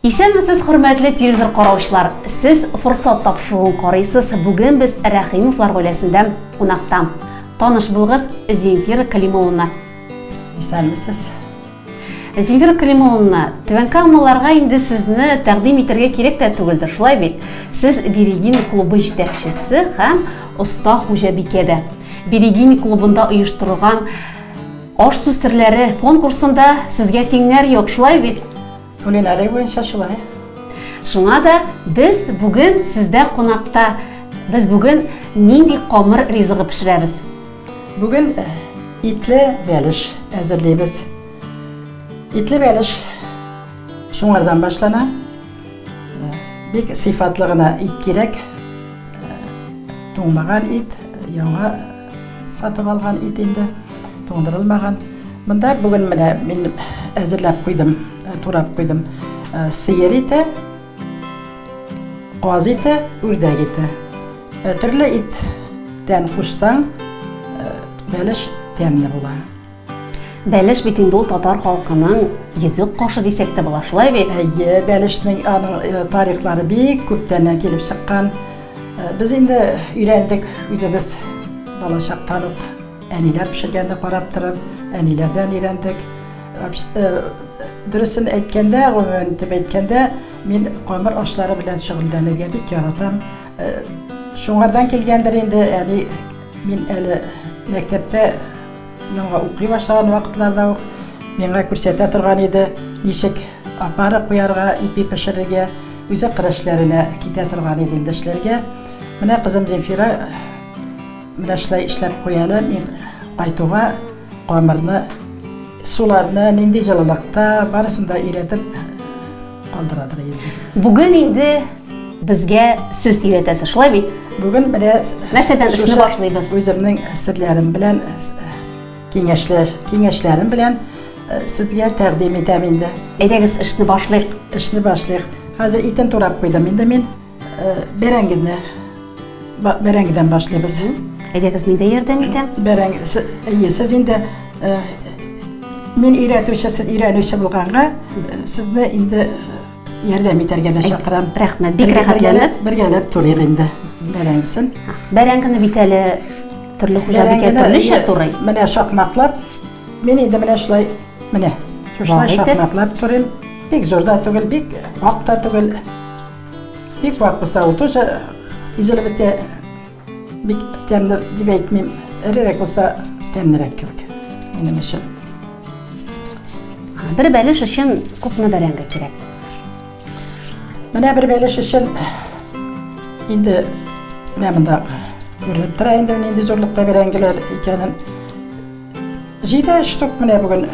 Исәнмесез хөрмәтле телевизор караучылар! Сез Форсат тапшыруын карыйсыз, бүген без Рәхимовлар гаиләсендә кунакта. Таныш булыгыз, Земфира Калимулловна. Исәнмесез. Земфира Калимулловна, Түбән Камаларга инде сезне тәкъдим итәргә кирәк тә түгелдер, шулай бит? Сез Берегин клубы җитәкчесе һәм оста хуҗабикә дә. Берегин клубында оештырылган Аш-су серләре конкурсында сезгә тиңнәр юк, шулай бит? Кулинария буенча шулай. Шуңа да без бүген сездә кунакта. Без бүген нинди камыр ризыгы пешерәбез? Бүген э, итле бәлеш әзерлибез. Итле бәлеш шуңардан башлана. Э, бик сыйфатлы гына ит кирәк. Э, туңмаган ит, яңа Сатып алган ит инде, туңдырылмаган. Монда бүген менә мин әзерләп куйдым, э, турап куйдым. Э, сыер ите, каз ите, үрдәк ите. Э, төрле иттән кушсаң, бәлеш тәмле була. Бәлеш бит инде ул татар халкының йөзек кашы дисәк тә була, шулай бит? Әйе, бәлешнең аның э, тарихлары бик күптәннән килеп чыккан. Э, без инде өйрәндек үзебез балачактан ук әниләр пешергәндә карап торып, әниләрдән өйрәндек. Э, дөресен әйткәндә, гомумән итеп әйткәндә, мин камыр ашлары белән шөгыльләнергә бик яратам. Э, шуңардан килгәндер инде, әни мин әле мәктәптә Миңа укый башлаган вакытларда ук миңа күрсәтә торган иде, ничек опара куярга, ипи пешерергә, үзе кыр эшләренә китә торган иде инде эшләргә. Менә кызым Земфира менә шулай эшләп куя әле, мин кайтуга камырны, суларны, нинди җылылыкта, барысын да өйрәтеп Кандырадыр инде. Бүген инде безгә сез өйрәтәсез, шулай бит? Бүген менә нәрсәдән эшне башлыйбыз? Үземнең серләрем белән киңәшләр, киңәшләрем белән сезгә тәкъдим итәм инде. Әйдәгез, эшне башлыйк. Эшне башлыйк. Хәзер итен турап куйдым инде мин. Бәрәңгене бәрәңгедән башлыйбыз. Әйдәгез, мин дә ярдәм итәм. Бәрәңге, әйе, сез инде мин өйрәтүче, сез өйрәнүче булганга, сезне инде ярдәм итәргә дә чакырам. Рәхмәт, бик рәхәтләнеп. Бергәләп турыйк инде бәрәңгесен. Бәрәңгене бит әле төрле хуҗабикә төрлечә турый. Менә шакмаклап, мин инде менә шулай, менә шулай шакмаклап турыйм. Бик зур да түгел, бик ак та түгел. Бик вак булса, ул тоже изелеп бетә. Бик тәмле дип әйтмим. Эрерәк булса, тәмлерәк кебек. Минем өчен. Бер бәлеш өчен күпме бәрәңге кирәк? Менә бер бәлеш өчен инде менә монда күренеп тора инде нинди зурлыкта бәрәңгеләр икәнен. Җиде штук менә бүген.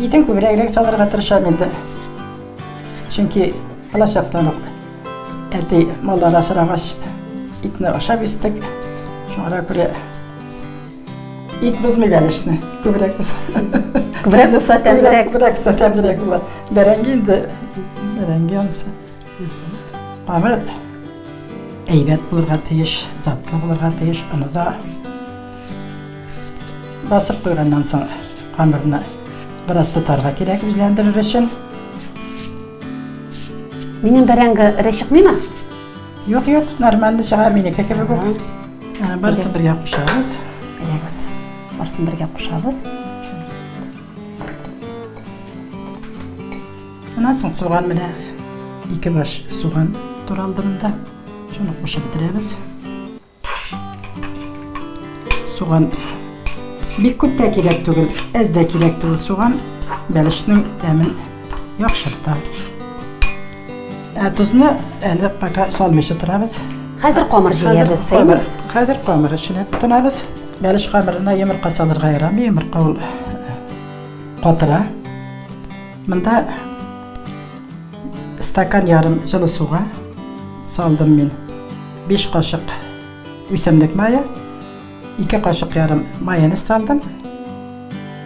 Итен күбрәгрәк салырга тырышам инде. Чөнки балачактан ук әти маллар асрагач, итне ашап истек. Шуңа күрә Ит бозмый бәлешне, күбрәк без. Күбрәк булса тәмлерәк. Күбрәк булса тәмлерәк була. Бәрәңге инде бәрәңге анысы. Камыр әйбәт булырга тиеш, затлы булырга тиеш, оны да Басып куйганнан соң камырны бераз тотарга кирәк үзләндерер өчен. Минем бәрәңге эре чыкмыймы? Юк, юк, нормально чыга, минеке кебек үк. Ә, Барысын бергә кушабыз. Әйдәгез, барысын бергә кушабыз. Аннан соң суган менә ике баш суган туралды монда. Шуны кушып бетерәбез. Суган бик күп тә кирәк түгел, әз дә кирәк түгел суган, бәлешнең тәмен яхшырта. Ә тозны әле пока салмыйча торабыз. Хәзер камыр җыябыз, сыймыз. Хәзер камыр эченә тотынабыз. Бәлеш камырына йомырка салырга ярамый, йомырка ул э, катыра. Монда Стакан ярым җылы суга салдым мин. 5 кашык үсемлек мае, 2 кашык ярым майонез салдым.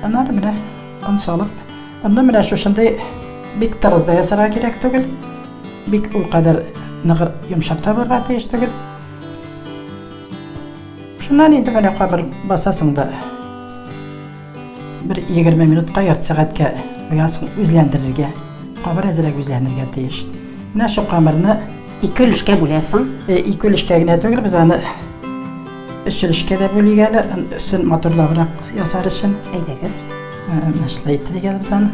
Аннары менә он салып, онны менә шушындый бик тыгыз да ясарга кирәк түгел. Бик ул кадәр ныгыр йомшак та булырга тиеш түгел. Шуннан инде менә кабыр басасың да Бер 20 минутка ярты сәгатькә оясын үзләндерергә, кабыр әзрәк үзләнергә тиеш. Менә шул камырны ике өлешкә бүләсең. Э, ике өлешкә генә түгел, без аны өч өлешкә дә бүлик әле, өстен матурлабрак ясар өчен. Әйдәгез. Э, Шулай итәргә без аны.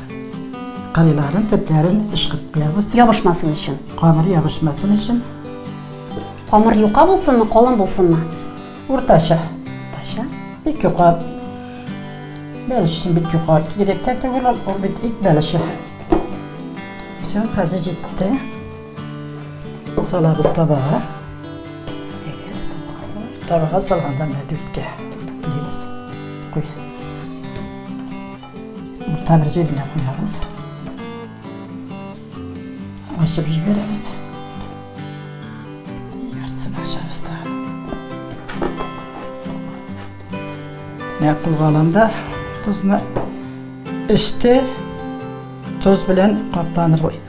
Кырыйларын, төпләрен ычкып куябыз. Ябышмасын өчен. Камыр ябышмасын өчен. Камыр юка булсынмы, калын булсынмы? Уртача. Уртача. Ике кат. Бәлеш өчен бик юка кирәк тә түгел, ул бит ит бәлеше. Все, хәзер җитте. Салабыз табага. Табага салганда мәдүткә. Дигез. Куй. Урта бер җиренә куябыз. Ачып җибәрәбез. Яртысын ачабыз да. Менә кулга аламда тозны өсте тоз белән капланыр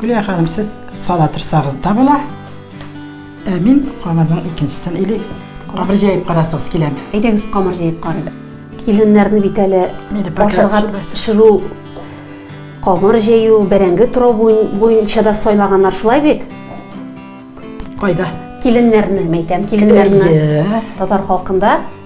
Гүлия ханым, сез сала торсагыз да була. Ә мин камырның икенчесен или камыр җәеп карасагыз киләме? Әйдәгез, камыр җәеп карыйк. Киленнәрне бит әле ашырга пешерү, камыр җәю, бәрәңге турау буенча да сайлаганнар, шулай бит? Кайда? Киленнәрне, мәйтәм, киленнәрне. Татар халкында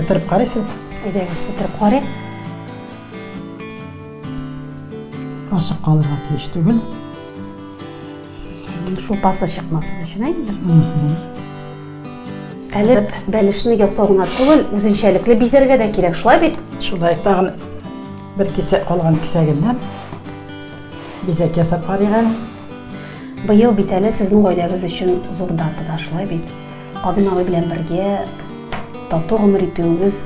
Бетереп карыйсыз? Әйдәгез, бетереп карыйк. Ашып калырга тиеш түгел. Шулпасы чыкмасын өчен әйдәгез. Әле бәлешне ясау гына түгел, үзенчәлекле бизәргә дә кирәк, шулай бит? Шулай, тагын Бер кисәк калган кисәгеннән бизәк ясап карыйк әле. Быел бит әле сезнең гаиләгез өчен зур дата да шулай бит. Кадым абый белән бергә тату гомер итүегез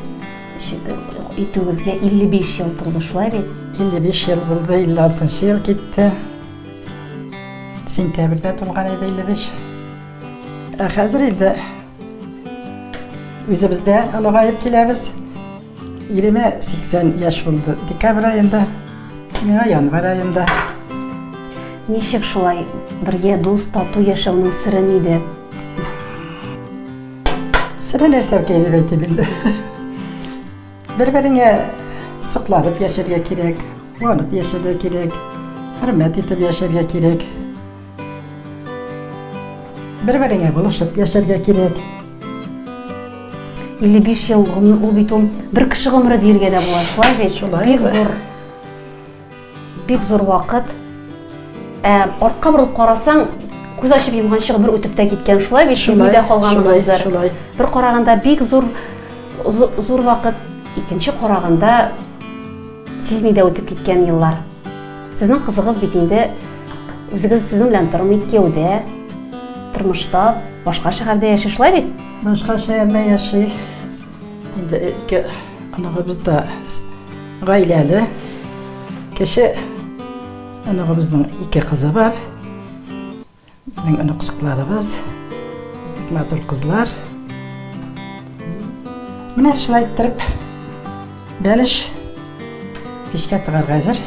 итүегезгә 55 ел тулды шулай бит? 55 ел булды, 56 ел китте. Сентябрьдә тулган иде 55. Ә хәзер инде Үзебез дә олыгаеп киләбез. Иремә 80 яшь булды декабрь аенда, миңа январь аенда. Ничек шулай бергә дус тату яшәүнең сыры нидә? Сыра нәрсә икән дип әйтим инде. Бер-береңә сокланып яшәргә кирәк, куанып яшәргә кирәк, хөрмәт итеп яшәргә кирәк. Бер-береңә булышып яшәргә кирәк. 55 ел гомер, ул бит ул бер кеше гомере диергә дә була, шулай бит? Шулай. Бик зур. Бик зур вакыт. Ә артка борылып карасаң, күз ачып йомганчы гомер үтеп тә киткән шулай бит сизми дә калганыгыздыр бер караганда бик зур зур вакыт икенче караганда сизми дә үтеп киткән еллар сезнең кызыгыз бит инде үзегез сезнең белән тормый кияүдә тормышта башка шәһәрдә яши шулай бит башка шәһәрдә яши Инде ике оныгыбыз да гаиләле. Кече оныгыбызның ике кызы бар. Безнең оныкчыкларыбыз бик матур кызлар. Менә шулай иттереп бәлеш печкә тыгарга әзер.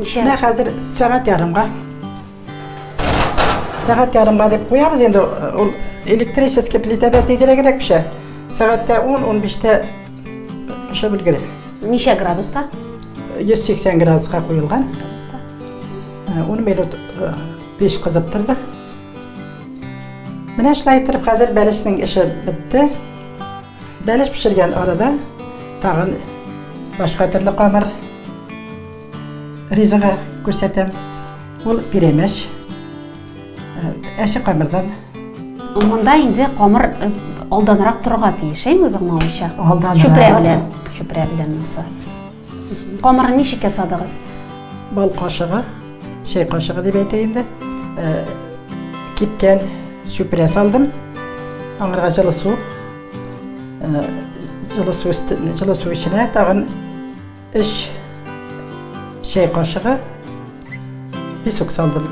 Менә хәзер сәгать ярымга Сәгать ярымга дип куябыз инде. Ул электрический плитәдә тизрәгрәк пешә. Сәгатьтә 10-15-тә пешеп өлгерә. Ничә градуста? 180 градуска куелган. 10 минут пеш кызып торды. Менә шулай итеп хәзер бәлешнең эше бетте. Бәлеш пешергән арада тагын башка төрле камыр Ризага күрсәтәм. Ул пирәмәч. Әче камырдан. Монда инде камыр алданрак торырга тиеш, әйме узыңмавынча? Алданрак. Чүпрә белән. Чүпрә белән булса. Камырын ничек ясадыгыз? Бал кашыгы, чәй кашыгы дип әйтә инде. Кипкән чүпрә салдым. Аңарга җылы су. Җылы су өстенә, җылы су эченә тагын Өч чәй кашыгы песок салдым.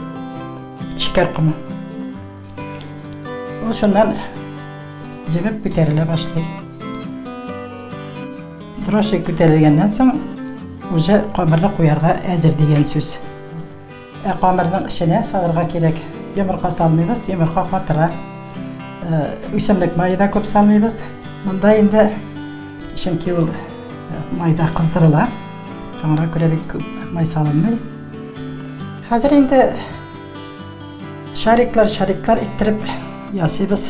Шикәр комы. Ул шуннан җебеп күтәрелә башлый. Троши күтәрелгәннән соң уже кабырга куярга әзер дигән сүз. Ә камырның эченә салырга кирәк. Йомырка салмыйбыз, йомырка катыра. Үсемлек мае да күп салмыйбыз. Монда инде чөнки ул майда кыздырыла. Шуңа күрә бик күп май салынмый. Хәзер инде шариклар, шариклар иттереп ясыйбыз.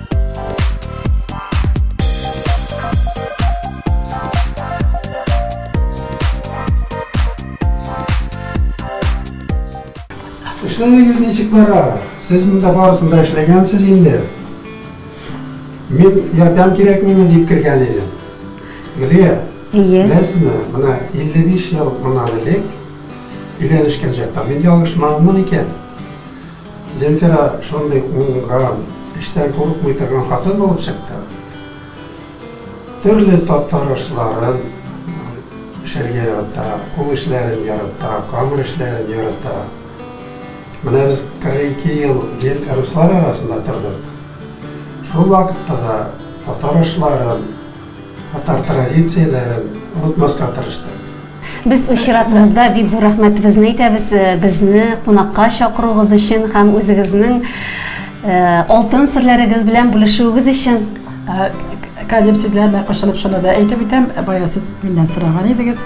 Эшләмәгез ничек бара? Сез монда барысын да эшләгәнсез инде. Мин ярдәм кирәкмиме дип кергән идем. Гөлия, Ие. Беләсезме, менә 55 ел моннан элек өйләнешкән чакта мин ялгышмадыммы икән? Зенфира шундый уңган, эштән курыкмый торган хатын булып чыкты. Төрле татар ашларын пешерергә ярата, кул эшләрен ярата, камыр эшләрен ярата. Менә без 42 ел ел руслар арасында тордык. Шул вакытта да татар ашларын, Татар традицияләрен онытмаска тырыштык. Без үз чиратыбызда бик зур рәхмәтебезне әйтәбез безне кунакка чакыруыгыз өчен һәм үзегезнең алтын серләрегез белән бүлешүегез өчен. Калим сүзләренә кушылып шуны да әйтеп үтәм, бая сез миннән сораган идегез,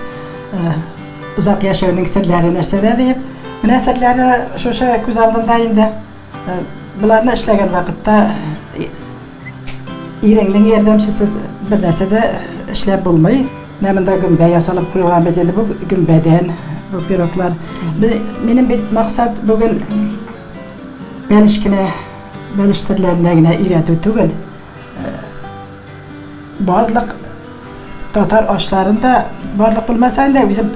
озак яшәүнең серләре нәрсәдә диеп. Менә серләре шушы күз алдында инде. Боларны эшләгән вакытта иреңнең ярдәмчесез бернәрсә дә эшләп булмый. Менә монда гөмбә ясалып куелган бит инде, бу гөмбәдән бу пироглар. Минем бит максат бүген бәлеш кенә, бәлеш серләренә генә өйрәтү түгел. Барлык татар ашларын да, барлык булмасаң да, үзем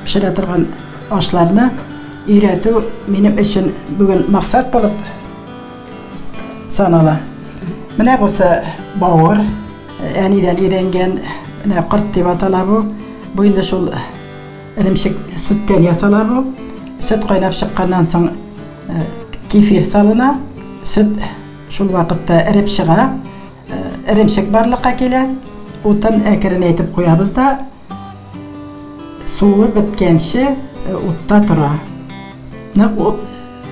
пешерә торган ашларны өйрәтү минем өчен бүген максат булып санала. Менә бусы бавыр, әнидән өйрәнгән, менә корт дип атала бу. Бу инде шул эремчек сөттән ясала бу. Сөт кайнап чыкканнан соң кефир салына, сөт. Шул вакытта эреп чыга, эремчек барлыкка килә. Утын әкренәйтеп куябыз да суы беткәнче утта тора. Нык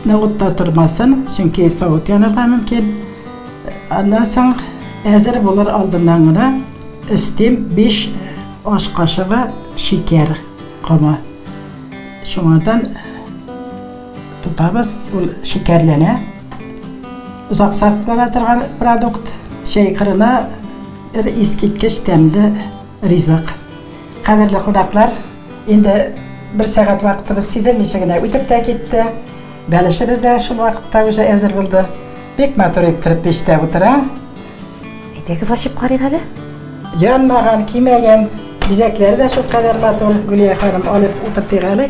нык утта тормасын, чөнки савыт янырга мөмкин. Аннан соң әзер булыр алдыннан гына өстим 5 аш кашыгы шикәр комы. Шуңардан Тотабыз, ул шикәрләнә. Озак саклана торган продукт. Чәй кырына бер искиткеч тәмле ризык. Кадерле кунаклар, инде бер сәгать вакытыбыз сизелмичә генә үтеп тә китте. Бәлешебез дә шул вакытта уже әзер булды. Бик матур иттереп пиштә утыра. Әйдәгез ачып карыйк әле. Янмаган, кимәгән, бизәкләре дә шулкадәр матур. Гөлия ханым, алып утыртыйк әле.